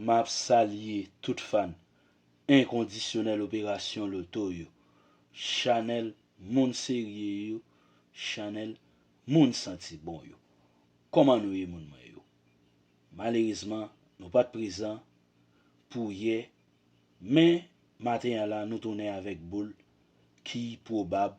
Map salye tout fan enkondisyonèl operasyon loto yo, chanèl moun serye yo, chanèl moun santi bon yo. Kòman nou ye moun mwen yo? Malerezman nou pat prezan pou yè men maten an la nou tounen avèk boul ki pwobab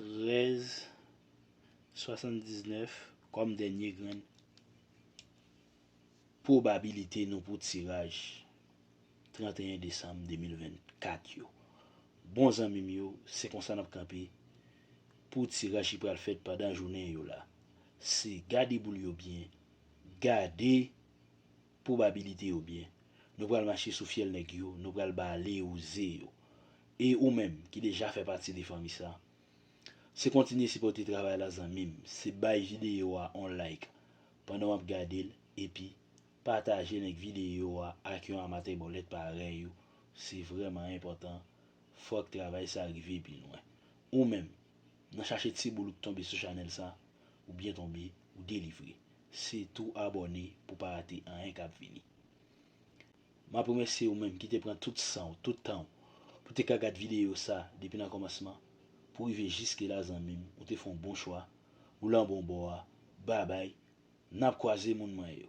13 79 kòm dènye grenn pwobabilite nou pou tiraj 31 desanm 2024 yo. Bon zanmi m yo, se konsa n ap kanpe pou tiraj ki pral fèt pandan jounen yo la. Se gade boul yo byen, gade. Probabilité yo byen. Nou pral mache sou fyèl nèg yo, nou pral bale ou ze yo. E ou menm, ki deja fè pati de fanmi sa. Se kontinye sipòte travay la zanmim, se bay videyo a on like pandan wap gadel epi patajel ank videyo a ak yon amatè bòlèt parèy ou, se vrèman enpòtan fòk travay sa rive pi lwen. Ou menm, Nan chache ti boul ou k tonbe sou chanèl sa ou byen tonbe ou delivre se tou abòne pou pa rate anyen kap vini map remèsye ou menm kite pran tout sanw tout tanw pou te ka gad videyo sa depi nan kòmansman pou rive jiske la zanmim ou te fon bon chwa ou lan bon bò a babay nap kwaze moun mwen yo.